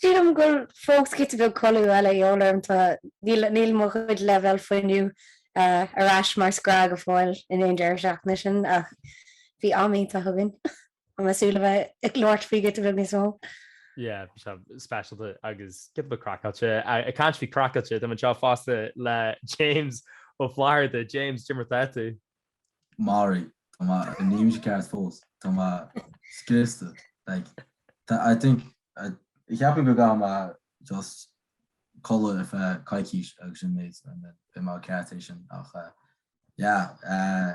Sílim go bhfuil fós giota beag codladh eile a dhíobháil orm. Tá, níl, níl mo chuid leibhéal fuinnimh ar ais mar is gnách go fóill i ndiaidh an deireadh seachtaine sin ach bhí am iontach againn. Tá mé ag súil le bheith ag labhairt faoi giota beag níos mó. Yeah, bhí sé speisialta agus giota beag craiceáilte. Ag caint faoi craiceáilte, tá mé anseo fosta le James Ó Flatharta. James, cad é mar atá tú. Ara, tá mé, níl mise ceart fós, tá mé scriosta, like, tá, I think, I, ceapaim go gcaithfidh mé just codladh ar feadh coicís agus sin mé, beidh mé ceart ansin ach eh, yeah, eh,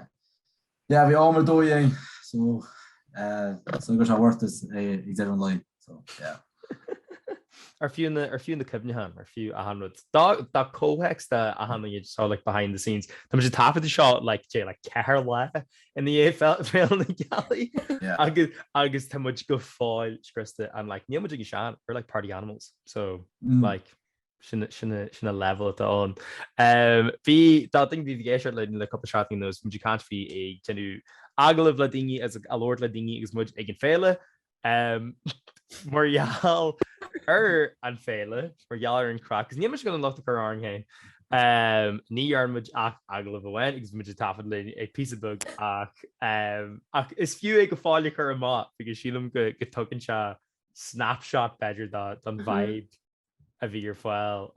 yeah, bhí am ar dóigh ann, so eh, so gur sé worth it é ag deireadh an lae, so yeah. Ar fiú na cuimhnithe ann, ar fiú achan rud dá comhthéacs de achan iad atá like behind the scenes. Tá muid ag taifeadadh seo like trí nó ceithre lá i ndiaidh fé- Féile na Gealaí Yeah. agus agus tá muid go fóill scriosta and like níl muid ag an sean, we're like party animals so Mm. like sin sin a- sin a level atá ann. Em, do na daoine a bhí ag éisteacht le le cúpla seachtain anuas bhí muid ag caint faoi bheith ag déanamh agallamh le daoine agus ag labhairt le daoine agus muid ag an féile Mar gheall ar an féile, mar gheall ar an craic, is níl muid ag gabháil an locht a chur orainn féin. Ní dhearna muid ach agallamh amháin agus muid ag taifead linn ag píosa beag ach ach is fiú é go fóill a chur amach, because sílim go dtugann sé snapshot b'fhéidir don vibe a bhí ar fáil.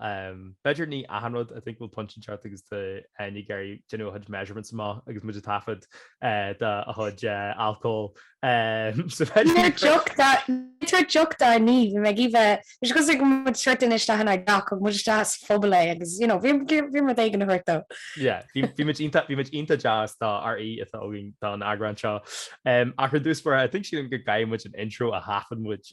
B'fhéidir ní achan rud, I think we'll punch and chart agus do Áine ag iarraidh déanamh a chuid measurements amach agus muid ag taifead do a chuid alcól. Níor deoch dá, níor deoch dá ní, bhí mé ag iomha, bhí sé cosúil go raibh muid sort anois le hAnne Jack, thug muid isteach sa phuball é agus, you know, bhíomar rud éigin a thabhairt dó. Yeah, bhí, bhí muid iontach, bhí muid iontach deas dár aoi atá againn don eagrán seo. Ach ar dtús, mar I think sílim go gcaithfidh muid an intro a thaifead muid.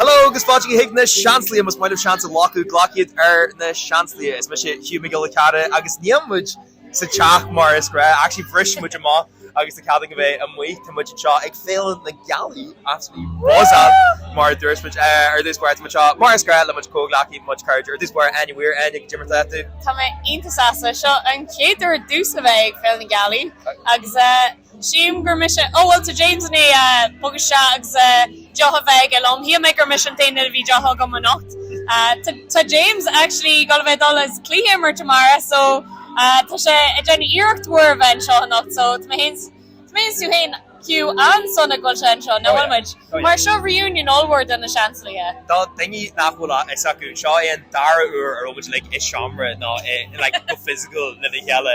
Hello agus Fáilte chuig na Seansálaithe, más maith leat seans a Ghlacadh, Glac iad ar na Seansálaithe. Is mise Hugh Mac Giolla Chearra agus níl muid sa teach mar is gnách. Actually bhris muid amach agus tá cead againn bheith amuigh. Tá muid anseo ag Féile na Gealaí, absolutely buzzing mar a dúirt muid ar dtús báire. Tá mé anseo mar is gnách le mo chuid comhghleacaithe, mo chuid cairde ar dtús báire. Áine Weir, Áine, cad é mar atá tú. Tá mé iontach sásta. Seo an chéad uair duitse a bheith ag Féile na Gealaí agus eh. Tchím gur mise, ó bhuel tá James in éadan é a bogadh isteach agus deoch a bheith aige liom. Shíl mé gur mise an t-aon duine a bhí deoch agam anocht. Tá James actually ag dul a bheith ag dul as cluiche a imirt amárach so tá sé ag déanamh iarracht mhór a bheith anseo anocht so tá mé féin is tá mé féin is tú féin Hugh an-sona go bhfuil sé anseo nach bhfuil muid? Mar seo reunion ollmhór do na Seansálaithe. Do dhaoine nach bhfuil a fhios acu, seo é an dara huair a raibh muid uilig i seomra nó i like go physical lena chéile.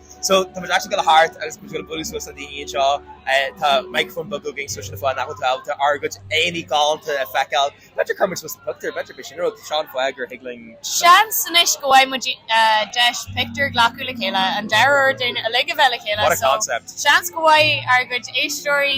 So, tá muid just ag gabháil thart agus muid ag bualadh suas le daoine anseo. Tá micreafón beag againn so sin fáth nach bhfuil tú ábalta ár gcuid aghaidheanna galánta a feiceáil. B'fhéidir cuirfidh muid suas an pictiúr, b'fhéidir b'é sin an rud. Sin an fáth gur thig linn. Seans anois go bhfaighidh muid deis pictiúr a ghlacadh le chéile, an dara uair dúinn uilig a bheith le chéile so seans go bhfaighidh ár gcuid éisteoirí,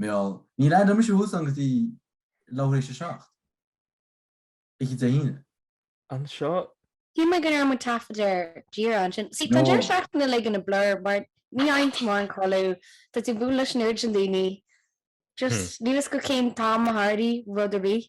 Bhuel, níor leandaigh mise thuas ann go dtí leathuair théis a seacht. Oíche Dé hAoine. anseo. Shíl mé go ndearna muid taifeadadh díreach ansin. Sea, tá deireadh seachtaine uilig ina blur mar ní fhaigheann tú mórán codladh, tá tú ag bualadh leis an oiread sin daoine, just níl fhios agat cén t-am a tharlaigh rud ar bith.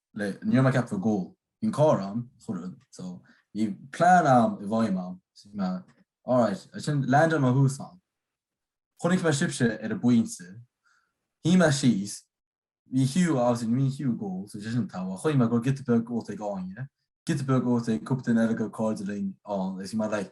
le ní raibh mé ag ceapadh go bhfuil cor ann chuireadh so bhí plean agam i bhfeidhm agam so bhí mé alright as sin leandaigh mé thuas ann chonaic mé sibhse ar an bpointe shuigh mé síos bhí Hugh obviously ní bhíonn Hugh ag ól so sé sin togha chonaic mé go giota beag ólta ag Áine giota beag ólta ag cúpla duine eile de chairde linn ann agus bhí mé like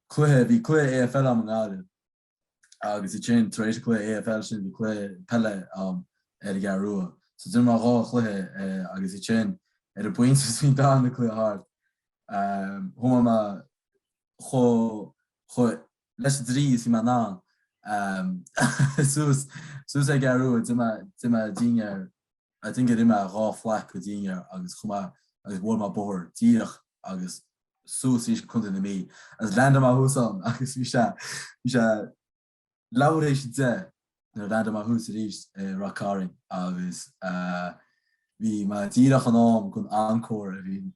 cluiche, bhí cluiche AFL agam i nGaillimh agus ansin tar éis an cluiche AFL sin bhí cluiche peile agam ar an gCeathrú Rua. So d'imir mé dhá chluiche agus ansin ar an bpointe is bhí an darna cluiche thart chuaigh mé chomh chomh leis an dlí is bhí mé in ann suas suas ar an gCeathrú Rua d'ith mé d'ith mé dinnéar I think gur ith mé dhá phlaic de dhinnéar agus chuaigh mé agus bhuail mé bóthar díreach agus suas aríst go Contae na Mí agus leandaigh mé thuas ann agus bhí sé bhí sé leathuair théis a deich nuair a leandaigh mé thuas aríst i Rath Cairn agus bhí mé díreach in am gon encore a bhí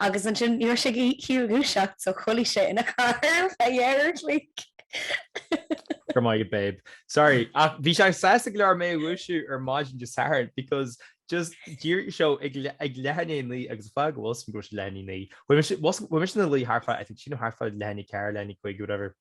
agus ansin ní raibh sé ag iarraidh a dhúiseacht so chodlaigh sé ina charr ar feadh dhá uair an chloig. Go raibh maith agat babe. Sorry ach bhí sé sásta go leor mé a dhúiseacht ar maidin Dé Sathairn because just díreach seo ag leath i ndiaidh a naoi agus fág go bhfuil suim go bhfuil sé leath i ndiaidh a naoi chuaigh mise ina luí thart fá oifig sin nó thart fá leath i ndiaidh a ceathair leath i ndiaidh a cúig whatever.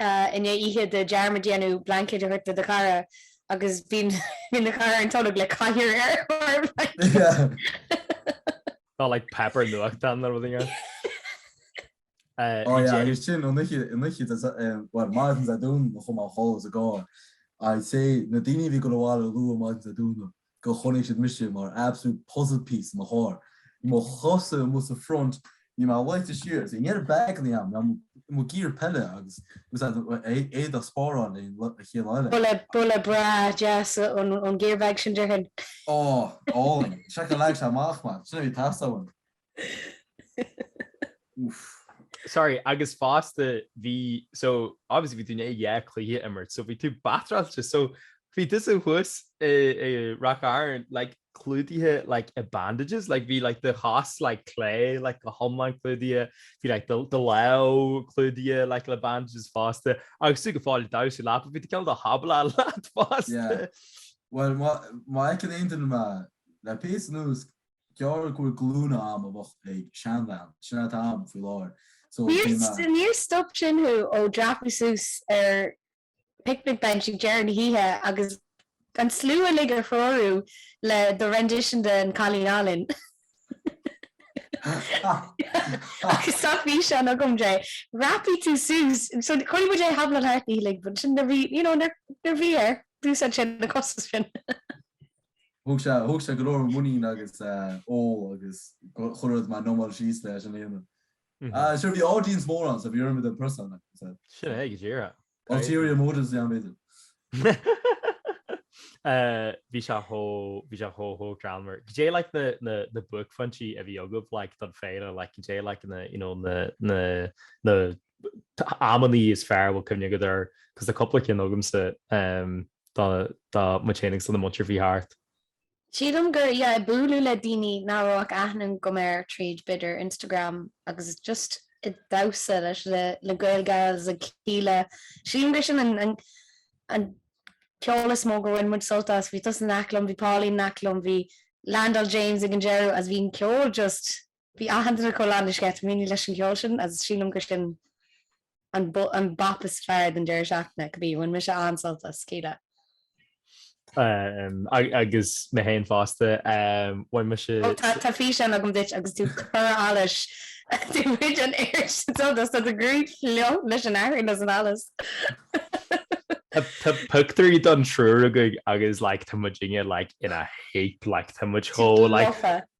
Inné oíche Dé dearmad a dhéanamh blaincéad a thabhairt do do chara agus bhí ina chodladh ar an tolg le cathaoir ar thóir a bhlaincéid. Not like páipéar nuachtáin nó rud eile. Inné. Agus sin an oíche an oíche Dé bhuel maidin Dé Domhnaigh chomh maith chomh is a gcáin. I'd say na daoine a bhí ag gabháil abhaile luath maidin Dé Domhnaigh go gcoinneodh siad mise mar absolute puzzle piece i mo charr, mo chosa amuigh sa front, i mo leite siar agus i ndeireadh beagán i am, mo gear peile agus éadaigh spáráil le chéile eile. Boladh breá deas ón gear bag sin déarfainn. Ó, álainn. Sea leag sé amach mé. Sin a bhí ag teastáil uaim. Sorry, agus fosta bhí so obviously bhí tú i ndiaidh cluiche imirt, so bhí tú batráilte so bhí tusa thuas ag rocáil like clúdaithe like i bandages, like bhí like do chos like clé like go hiomlán clúdaithe, bhí like do lámh clúdaithe like le bandages fosta agus tú go fóill damhsa leapa, bhí tú ag caint Hablando leat fosta. Well má fheiceann aon duine mé le pé san úsc déarfá go bhfuil glúine agam a bheadh ag seanbhean. Sin é atá ann faoi láthair. So bhí mé. Níor stop sin thú ó dhreapadh suas ar picnic bench ag deireadh na hoíche agus an slua uilig a threorú le do rendition de An Cailín Álainn. Agus tá físeán agam de. Dhreapaigh tú suas. So chuaigh muid ar Hablando thart na hoíche uilig but sin na bhí, you know, na bhí ar dtús ansin na cosa sin. Thóg sé, thóg sé go leor muinín agus ól agus chuir rud mar Nomáil síos leis an aonad. Ah, sure, bhí audience mór ann so bhí orm i do prosaic, like I said. Sin é, go díreach. Ulterior motives i am b'fhéidir. Bhí sé chomh, bhí sé chomh, chomh greannmhar. Goidé like na, na, na buaicphointí a bhí agaibh like don féile like goidé like na, you know, na, na, na, amannaí is fearr a bhfuil cuimhne agat ar, cos tá cúpla cinn agamsa dá muid féin agus do na muintir faoi thart. Sílim gur yeah ag bualadh le daoine nach raibh ach aithne agam orthu tríd b'fhéidir Instagram agus just ag damhsa leis le le Gaeilge agus ag Kíla. Sílim gur sin an an ceol is mó gur bhain muid sult as. Bhí tusa in aice liom, bhí Pauline in aice liom, bhí Slándáil James ag an deireadh agus bhí an ceol just Bhí aitheantas chomh leanúnais aige. Taimíní leis an gceol sin agus sílim gur sin an bap is fearr don deireadh seachtaine go díreach. Bhain mise an-sult as, Kíla. Agus mé féin fosta. Bhain mise. Ó tá tá físeán agam díot agus tú ag cur allais. Bhain muid an oiread sin sult as. Tá do ghruaig fliuch leis an athrá leis an allas. Tá pictiúirí don triúr againn agus like tá muid inge like in a heap like tá muid chomh like. Tá muid lofa.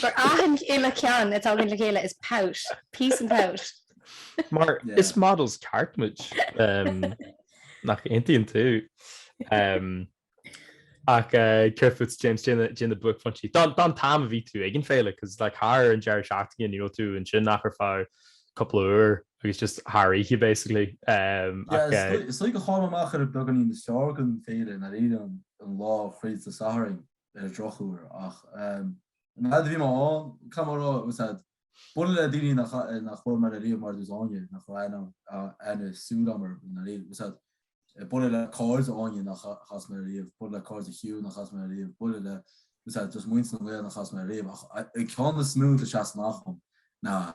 Gur achan uile ceann atá againn le chéile is pout, peace and pout. Mar is models ceart muid, nach aontaíonn tú? Ach cad fútsa James, goidé na buaicphointí. Don t-am a bhí tú ag an féile, cos like thar an deireadh seachtaine, ní raibh tú ansin ach ar feadh cúpla uair agus just thar oíche basically. Is dóigh go chaill mé amach ar an beagáinín is fearr den féile nár éirigh an lá chraolta Sathairn. ar drochuair ach an fhaid a bhí mé ann, cad mar a raibh sé, ag bualadh le daoine nár chas mé leo riamh mar dtús Áine, nach raibh aithne súl agam orthu riamh, ag bualadh le cairde Áine nár chas mé leo riamh, bualadh le cairde Hugh nár chas mé leo riamh, bualadh le just muintir na nGael nár chas mé leo riamh ach an ceann is mó atá seasamh amach agam ná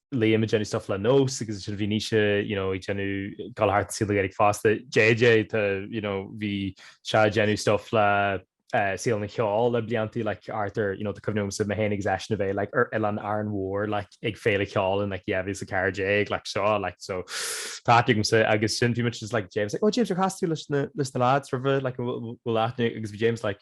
Liam ag déanamh stuff le Nós agus ansin bhí Naoise you know ag déanamh dul thart saol na Gaeilge fosta. JJ tá you know bhí sé ag déanamh stuff le saol an cheoil le blianta like Arthur you know tá cuimhne agamsa mé féin agus eisean a bheith like ar Oileán Árann Mhór like ag Féile Cheoil in like 2014 like seo like so tá aithne agamsa agus ansin bhí muid just like James like oh James ar chas tú leis na leis na lads roimhe like an bhfuil aithne agus bhí James like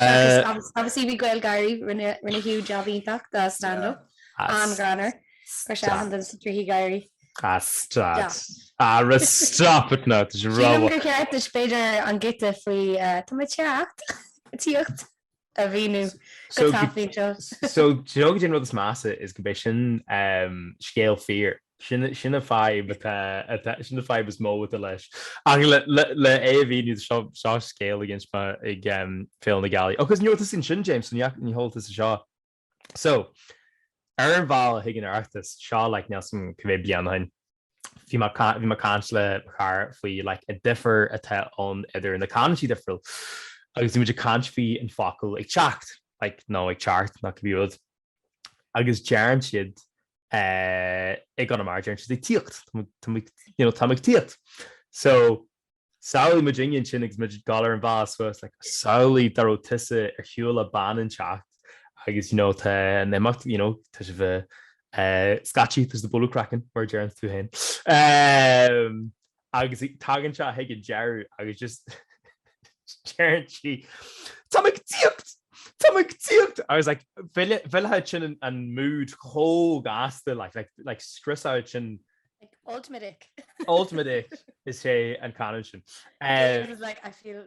obviously bhí Gaelgáirí, rinne rinne Hugh job iontach do stand up, an-ghreannmhar, chuir sé achan duine sna trithí gáire. Ah stop. Ah ra stop it now, tá sé Sílim ró-mhaith. gur cheart duit b'fhéidir an giota faoi Tá mé ag teacht tíocht a mhíniú go So, tapaí anseo. so, déarfaidh mé an rud is measa is go mbeidh sin scéal fíor. Sin an fadhb is mó atá leis. Ach le é a mhíniú, seo scéal a d'inis mé ag Féile na Gealaí. Agus ní raibh tusa ansin, James, níl a fhios agatsa seo. So, ar an bhealach chuig an Oireachtas, seo like níl a fhios agam cibé bliain ó shin, bhí mé bhí mé ag caint le mo chara faoi like an difear atá ann idir na canúintí difriúil. Agus bhí muid ag caint faoi an focal ag teacht like nó ag teacht nó cibé rud. Agus deireann siad, eh, i gConamara, deireann siad ag tíocht, tá muid, tá muid, you know, tá muid ag tíocht. So, samhlaigh muid ionainn féin agus muid ag dul ar an bhus, like, samhlaigh dá raibh tusa ar shiúl le bean ón áit agus, you know, tá an imeacht, you know, tá sibh, eh, eh, scaití, there's bualadh craicinn, mar a deireanns tú féin. Eh, agus tagann sé chuig an deireadh agus just deireann sí Táim ag tíocht! Táim ag tíocht! I was like mhillfeadh mhillfeadh sin an an mood chomh gasta like like like scriosfadh sin Like, ultimate ick. ultimate ick is é an canúint sin. It Eh, was like, I feel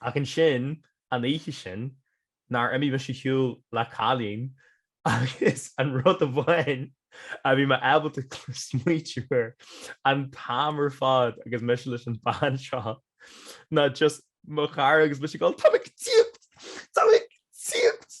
Ach ansin an oíche sin, nár imigh mise ar shiúl le cailín agus an rud amháin a bhí mé ábalta smaoitiú air an t-am ar fad agus mise leis an bhean seo ná just mo chara agus mise ag dul Tá mé ag tíocht! Tá mé ag tíocht!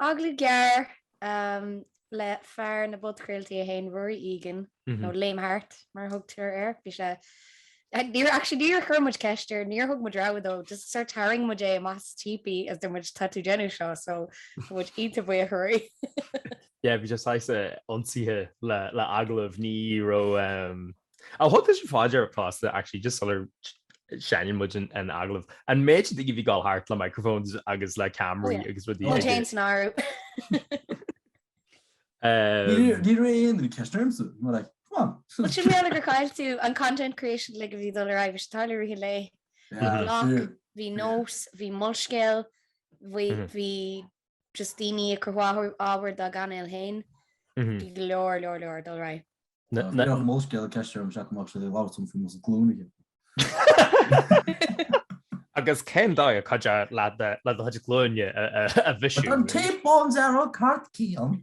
Agallamh gearr le fear na bpodchraoltaí é féin, Ruairí Egan, nó Liam Hart mar a thugtar air. Bhí sé, níor, actually níor chuir muid ceist air, níor thug muid rogha dó, just sort tharraing muid é amach sa típí agus deir muid, tá tú déanamh seo, so tá muid iontach buíoch a Ruairí. Yeah, bhí sé saghas ionsaithe le agallamh, ní raibh, Ar thug tusa fá dear fosta actually just sular seinneann muid an agallamh? An méid sin daoine a bhí ag dul thart le microphones agus le ceamaraí agus rudaí aige? Muid féin san áireamh. Níor chuir aon duine ceist ormsa. They were like, come on. Bhuel sílim gur chaill tú an content creation uilig a bhí ag dul ar aghaidh. Bhí sé ag tarlú i rith an lae. Bhí Bloc, bhí Nós, bhí Molscéal, bhí just daoine ag cruthú ábhar dá gcainéil féin bhí go leor, leor, leor ag dul ar aghaidh. Tá bhíodh an Molscéal i gceist orm seachtain amach seo, labhairt orm faoi Mosa Glúnaithe. Agus cén dóigh, cuidiú leat le do chuid glúine a bhisiú? Tá an Tape Bones earrach, Cairt Cian.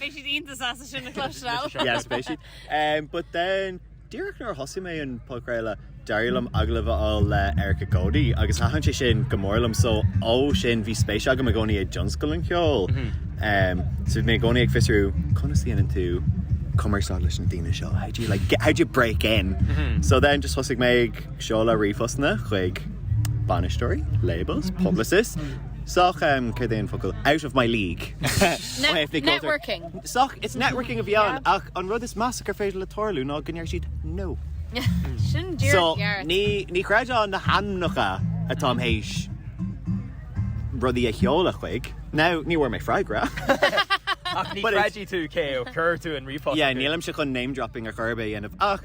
Beidh siad iontach sásta sin a chloisteáil. Yes, beidh siad. Um, but then, díreach nuair a thosaigh mé an podchraoladh, d'éirigh liom agallamh a fháil le Erica Cody agus thaitin sé sin go mór liom, so ó sin bhí spéis agam i gcónaí i dtionscal an cheoil. Um, so bhí mé i gcónaí ag fiosrú, conas a dhéanann tú cumarsáid leis na daoine seo, how do you like get, how do you break in? So then just thosaigh mé ag seoladh ríomhphostanna chuig bainisteoirí, labels, publicists, sách um, céard é an focal? out of my league ó thaobh na gceoltóirí. Networking. Sách, it's networking a bhí ann Yeah. ach an rud is measa gur féidir le tarlú ná go ndeir siad no. Sin So, díreach dhearg. ní, ní chreidfeá na hainmneacha atá mé théis rudaí a sheoladh chuig. Now, ní bhfuair mé freagra. Ach ní But it's- chreidfidh tú cé ó chuir tú an ríomhphost Yeah, chucu. nílimse chun name-dropping ar chor ar bith a dhéanamh ach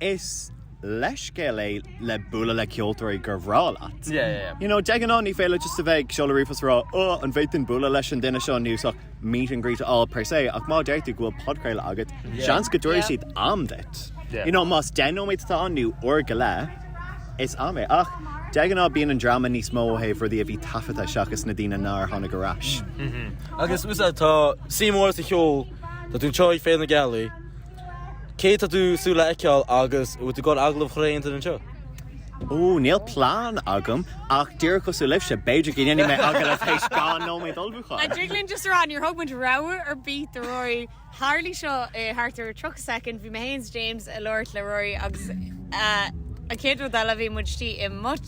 Is leithscéal é le bualadh le ceoltóirí gur bhreá leat. You know, de ghnáth ní féidir leat just a bheith ag seoladh ríomhphost a rá oh an bhféadfainn bualadh leis an duine seo nó is ach meet and greet a fháil per se ach má deir tú go bhfuil podchraoladh agat, seans go dtabharfaidh siad am duit. You know, más deich nóiméad atá ann nó uair go leith, is am é. Ach de ghnáth bíonn an dráma níos mó ó thaobh rudaí a bhí taifeadta seachas na daoine nár tháinig ar ais. Agus úsáid tá suim mhór sa cheol tá tú anseo ag Féile na Gealaí. Cé atá tú ag súil le feiceáil agus an bhfuil tú ag dul agallamh a chur ar aon duine anseo? Ó, níl plean agam, ach díreach cosúil libhse, b'fhéidir go ndéanfaidh mé agallamh tar éis dhá nóiméad ullmhúcháin. An dtig linn just a rá, níor thug muid rabhadh ar bith do Rory. Tharlaigh seo i thart ar 30 soicind, bhí mé féin is James ag labhairt le Rory agus an chéad rud eile bhí muid istigh i mBots.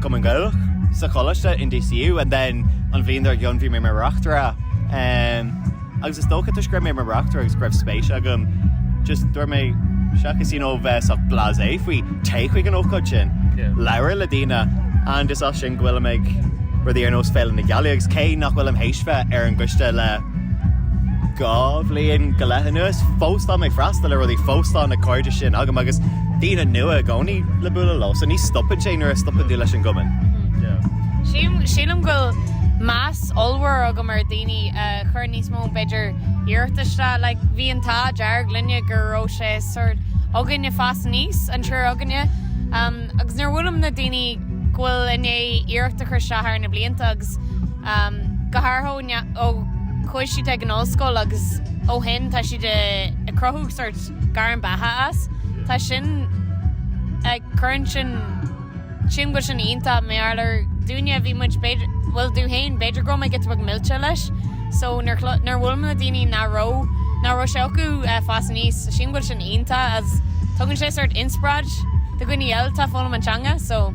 Cumann Gaelach sa choláiste in DCU and then an bhliain dár gcionn bhí mé mar reachtaire um agus is dócha toisc go raibh mé mar reachtaire agus go raibh spéis agam just dúirt mé seachas you know bheith sách blasé faoi téigh chuig an ócáid sin, labhair le daoine and is as sin go bhfuilim ag rudaí ar nós Féile na Gealaí agus cé nach bhfuilim théis bheith ar an gcoiste le Dhá bhliain go leith anuas, fós tá mé ag freastal ar rudaí, fós tá na cairde sin agam agus daoine nua i gcónaí le bualadh leo, so ní stopann sé nuair a stopann tú leis an gcumann. Sílim go bhfuil meas ollmhór agam ar dhaoine a chuireann níos mó b'fhéidir iarracht isteach, like bhí an t-ádh dearg linne go raibh sé sórt againne ag fás aníos, an triúr againne, agus nuair a bhuailim le daoine go bhfuil i ndiaidh iarracht a chur isteach thar na blianta agus go háirithe. ó chuaigh siad ag an ollscoil agus ó shin tá siad ag cruthú sórt gairm beatha as. Tá sin cuireann sin, sílim go bhfuil sin iontach mar dúinne bhí muid b'fhéidir, bhuel domh féin, b'fhéidir go raibh mé giota beag millte leis so nuair nuair a bhuail mé le daoine nach raibh, nach raibh sé acu a' fás aníos, sílim go bhfuil sin iontach is tugann sé sórt inspioráid do dhaoine eile atá ag foghlaim an teanga so.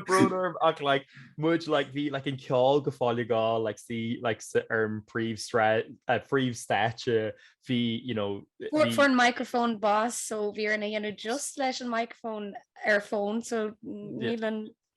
Broderm ach like muid like bhí like an ceol go fóill ag gabháil like sí like sa ar an príomh an príomhstáitse bhí you know fuair an microphone bás so bhí orainn é a dhéanamh just leis an microphone ar fón so nílan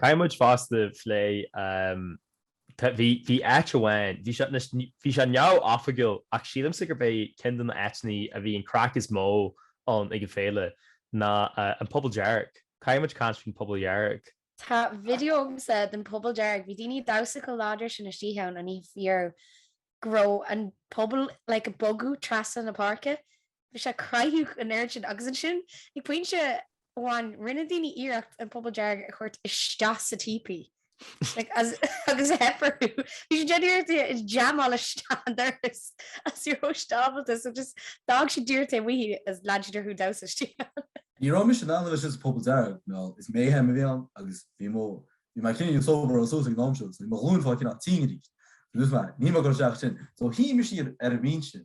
Caithfidh muid fosta plé, bhí, bhí áit amháin, bhí sé, bhí sé neamhoifigiúil ach sílimse gurb é ceann de na áiteanna a bhí an craic is mó ann ag an bhféile ná An Puball Dearg. Caithfidh muid caint faoin bPuball Dhearg. Tá video agamsa den Puball Dearg, bhí daoine ag damhsa chomh láidir sin istigh ann an oíche go raibh an puball, like, ag bogadh trasna na páirce. Bhí sé ag creathadh an oiread sin agus ansin, ag pointe amháin, rinne daoine iarracht an puball dearg a thabhairt isteach sa típí agus a theifeartú. Bhí siad ag iarracht é a jamáil isteach an doras is ní raibh siad ábalta so just d'fhág siad díreach taobh amuigh é agus lean siad orthu damhsa istigh ann. Ní raibh mise in ann dul isteach sa puball dearg, mé thall, is mé fhein a bhí ann agus bhí mo, bhí mé cineál sobered suas ag an am seo so bhí mo ghlúin fá cinn á tinn arís. Bhí mo, bhí mé, níl mé ag cur isteach sin so shuigh mise iad ar an mhín sin.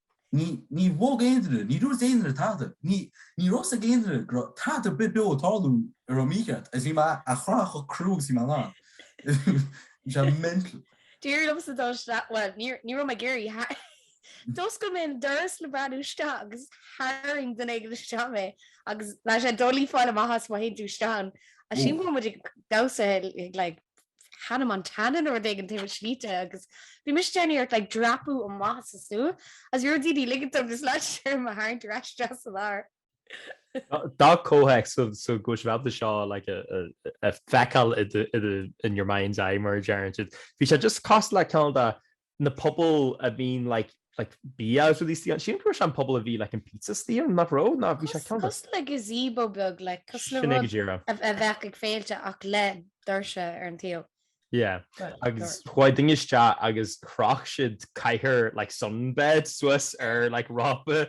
Ní ní bhog aon duine, ní dúirt aon duine tada, ní ní raibh 's ag aon duine go raibh tada ar bith beo ag tarlú a raibh mícheart agus bhí mé a' gáire chomh crua agus a bhí mé in ann. Bhí sé mental. D'éirigh liomsa dul isteach, bhuel ní ní raibh mé ag iarraidh ach d'oscail mé an doras le breathnú isteach agus tharraing duine éigin isteach mé agus bheadh sé doiligh fáil amach as má théann tú isteach ann. Ansin bhí muid ag damhsa ag like Hannah Montana nó rud éigin taobh istigh de agus bhí mise ag déanamh iarracht like dreapadh amach sa súil as bhí rud éigin ligean dom is leid siar mo tharraingt ar ais deas an áir. D'fhág comhthéacs so go mbeidh sibh ábalta seo like a fheiceáil in your mind's eye mar a deireann siad. Bhí sé just cosúil le ceann de na pobail a bhíonn like like bia agus rudaí saor. Sílim go raibh sé an puball a bhí like an pizza saor nach raibh? Ná bhí sé ceann de. Cos le gazebo beag like cos le rud a bheadh ag féilte ach le doirse ar an taobh. Yeah agus chuaigh daoine isteach agus chroch siad cathaoir like sunbed suas ar like rópa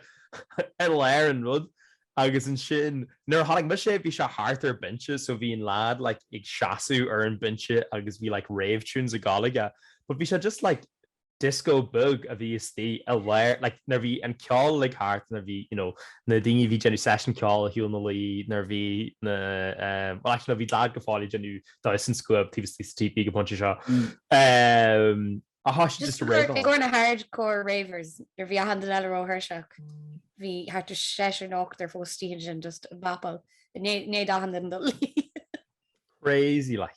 i lár an rud. Agus ansin, nuair a tháinig mise, bhí sé thart ar an binse, so bhí an leaid like ag seasamh ar an binse agus bhí like rave tunes ag goil aige, but bhí sé just like disco beag a bhí istigh i lár like nuair a bhí an ceol like thart nuair a bhí you know na daoine a bhí ag déanamh seisiún ceoil ag gabháil ina luí nuair a bhí na ehm well actually no bhí leaid go fóill ag déanamh damhsa na scuaibe taobh istigh sa típí go pointe seo mm. ehm Just to correct, i gcomhair na hardcore ravers, nuair a bhí achan duine eile róthuirseach, bhí thart ar seisear nó ochtar fós dícheall sin just ag bopáil, nuair a bhí achan duine ina luí. Crazy like.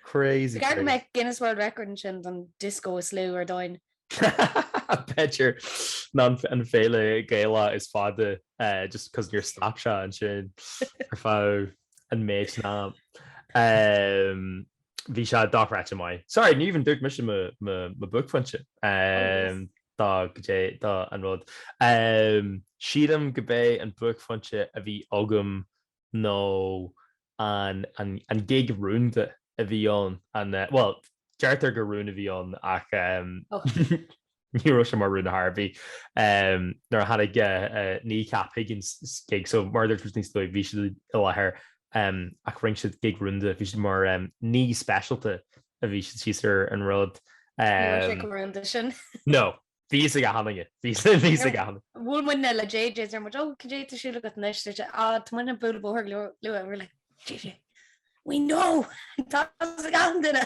Crazy crazy. B'fhearr go mbeadh Guinness World Record ansin don disco is lú ar domhain. B'fhéidir, Nó an féile Gaelach is fada just cos níor stop sé ansin ar feadh an maidne. Bhí sé dochreidte maith. Sorry, ní bhíonn dúirt mise mo, mo, mo buaicphointe. Oh yes. Um, tá caidé, tá an rud. Um, sílim gurb é an buaicphointe a bhí agam nó an, an, an gig rúnda a bhí ann, an, uh, well, deirtear gur rún a bhí ann ach, um, Ní raibh sé mar rún de thairbhe nuair a tháinig Kneecap chuig an gig, so mar a dúirt muid níos luaithe bhí siad i láthair ach rinn siad gig rúnda, bhí siad mar aíonna speisialta a bhí siad síos ar an rud. Ní raibh sé chomh rúnda sin. No, bhí fhios ag achan duine, bhí fhios ag achan duine. Bhuail muidne le JJ, deir muid, 'Ó, cad é atá ar siúl agat anois? Deir sé, 'Á, tá muidne ag bualadh an bóthar luath', and we were like, 'JJ, we know, tá's ag achan duine!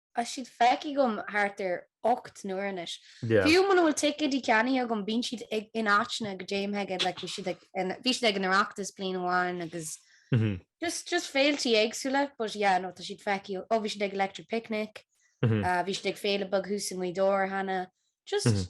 Tá siad feicthe agam thart ar ocht n-uair anois. Fiú muna bhfuil ticéidí ceannaithe agam, bíonn siad in áiteanna go dtéim ag, like bhí siad ag, bhí siad ag an Oireachtas bliain amháin agus just, just féilte éagsúla but yeah no tá siad feicthe, ó bhí siad ag Electric Picnic, bhí siad ag féile beag thuas i nGaoth Dobhair cheana, just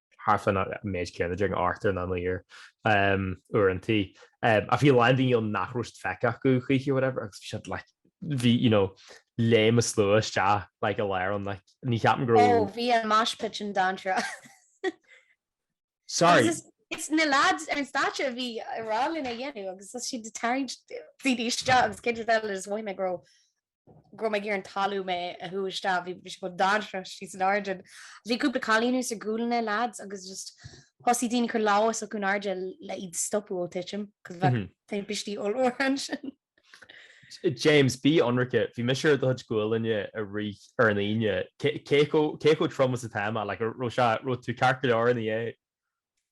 thar fán méid céanna déarfainn thart ar naoi n-uair uaireantaí. Ach bhí a lán daoine ann nach raibh feicthe acu choíche whatever agus bhí siad like bhí you know léim an slua isteach like i lár an like ní cheapaim go raibh. Oh bhí an mosh pit sin tinn seo. Sorry. Agus is na lads ar an stáitse a bhí ag rá linn a dhéanamh agus thosaigh siad ag tarraingt daoine isteach agus cé duit eile is mhaith mé go raibh go raibh mé ag iarraidh an talamh mé a shú isteach, bhí sé chomh dainséarach thuas in airde. Bhí cúpla cailín thuas ar ghuailne lads, agus just thosaigh daoine ag cur lámha s'acu in airde le iad stopadh ó titim, cos bheadh timpistí ollmhóra ansin. James, bí ionraic, bhí mise ar do chuid guailne i rith ar an Aoine, cé chomh trom is atá mé, like, raibh sé, raibh tú ceart go leor ina dhiaidh.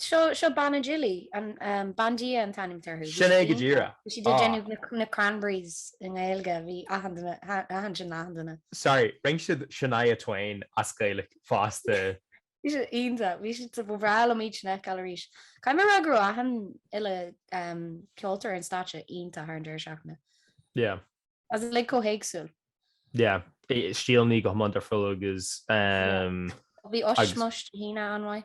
Seo, seo Banna Jilly, an, ehm, Bandia an t-ainm atá orthu. Bhí Sin é siad go iontach. deireadh. Bhí siad ag Ah. déanamh na, na Cranberries i nGaeilge. Bhí achan duine, ha, achan sin achan duine. Sorry, rinne siad Shania Twain as Gaelic fosta. Bhí siad iontach. Bhí siad, ba bhreá liom iad sin a fheiceáil arís. Caithfidh mé a rá go raibh achan uile, ehm, ceoltóir ar an stáitse iontach thar an deireadh seachtaine. Yeah. Is uilig chomh héagsúil. Yeah. I- Stíleanna go hiomlán difriúil agus, ehm, Bhí Ushmush Dé hAoine an-mhaith.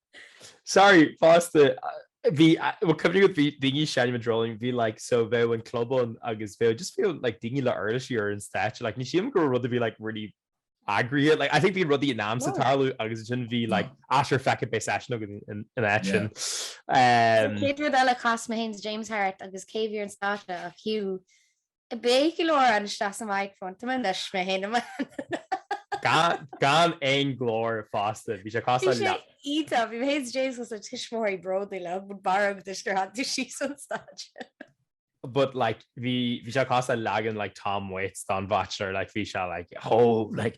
Sorry, fosta, bhí cuimhní go bhí daoine ag seinm sa Dreoilín, bhí like so bheadh an club ann agus bheadh just bhí like daoine le uirlisí ar an stáitse, like ní shílim go raibh, bhí like rudaí eagraithe, like I think bhí rudaí in ainm is tarlú agus then bhí like ah sure feck it beidh seisiún againn ina áit sin. Chéad rud eile chas mé féin is James thart agus cé a bhí ar an stáitse ach Hugh Beidh go leor ann isteach sa microphone. Tá mé anois mé féin am. Gan aon glór fágtha bhí sé cosúil le. Íta bhí hé James go sa tuismitheoirí bródúil le bud barg de gur hat tú sí san staid. but like bhí, bhí cosúil le leagan like Tom Waits den bachelor like bhí like chomh like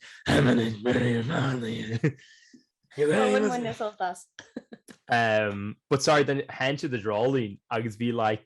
um but sorry then into the Dreoilín agus bhí like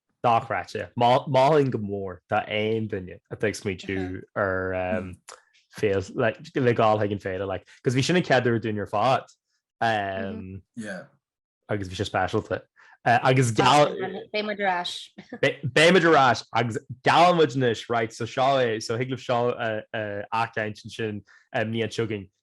dochreidte. Mholfainn go mór d'aon duine atá ag smaoitiú ar féile, dhul chuig an féile, cos bhí sin an chéad uair dúinn ar fad agus bhí sé speisialta. Agus beidh muid ar ais. Beidh muid ar ais agus geallann muid anois, right, so seo é, so thig libh seo a fheiceáint ansin an bhliain seo chugainn,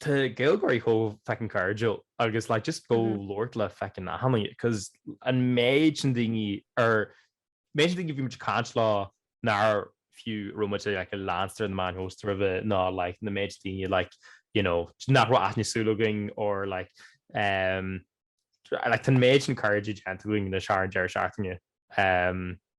Tá Gaeilgeoirí chomh feckin cairdiúil agus like just ag labhairt le feckin achan duine cos an méid sin daoine ar méid sin daoine a bhí muid ag caint leo nár fiú raibh muid ag like leanstan ar na meáin shóisialta roimhe nó like na méid daoine like you know nach raibh aithne súl againn or like umm like tá an méid sin cairde déanta againn anois thar an deireadh seachtaine umm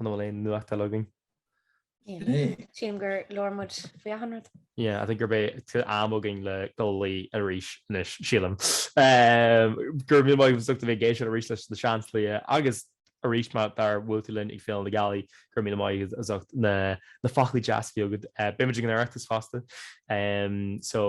An bhfuil aon nuacht eile againn? Nah. Sílim gur labhair muid faoi achan rud. Yeah, I think gurb é, tá am againn le dul a luí arís anois, sílim. Go raibh míle maith agat as ucht a bheith ag éisteacht arís leis na Seansálaithe agus arís má tá gur bhuail tú linn ag Féile na Gealaí, go raibh míle maith agat as ucht na. na foclaí deas bhí agat. Beimid ag an Oireachtas fosta so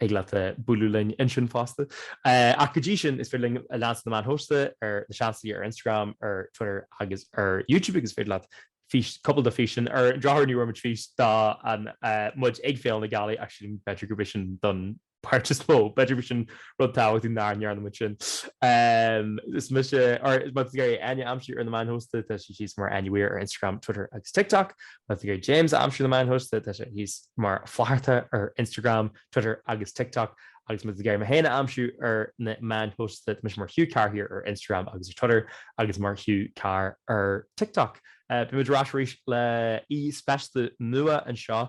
thig leat bualadh linn ansin fosta. Ach go dtí sin, is féidir linn a leanstan ar na meáin shóisialta, Seansálaithe ar Instagram, ar Twitter agus ar YouTube agus is féidir leat fís, cúpla de na físeáin ar an drochuair ní bhfuair muid fís de muid ag Féile na Gealaí ach sílim b'fhéidir gurb é sin don páirt is mó. B'fhéidir gur sin rud maith nach ndearna muid sin. Is mise, or más mian libh Áine a aimsiú ar na meáin shóisialta, tá sí thíos mar Annie Weir ar Instagram, Twitter agus TikTok. Más mian libh James a aimsiú ar na meáin shóisialta, tá sé thíos mar Flatharta ar Instagram, Twitter agus TikTok. Agus más mian libh mé féin a aimsiú ar na meáin shóisialta, tá mise mar Hugh Carr here ar Instagram agus ar Twitter agus mar Hugh Carr ar TikTok. Beimid ar ais arís le aoi speisialta nua anseo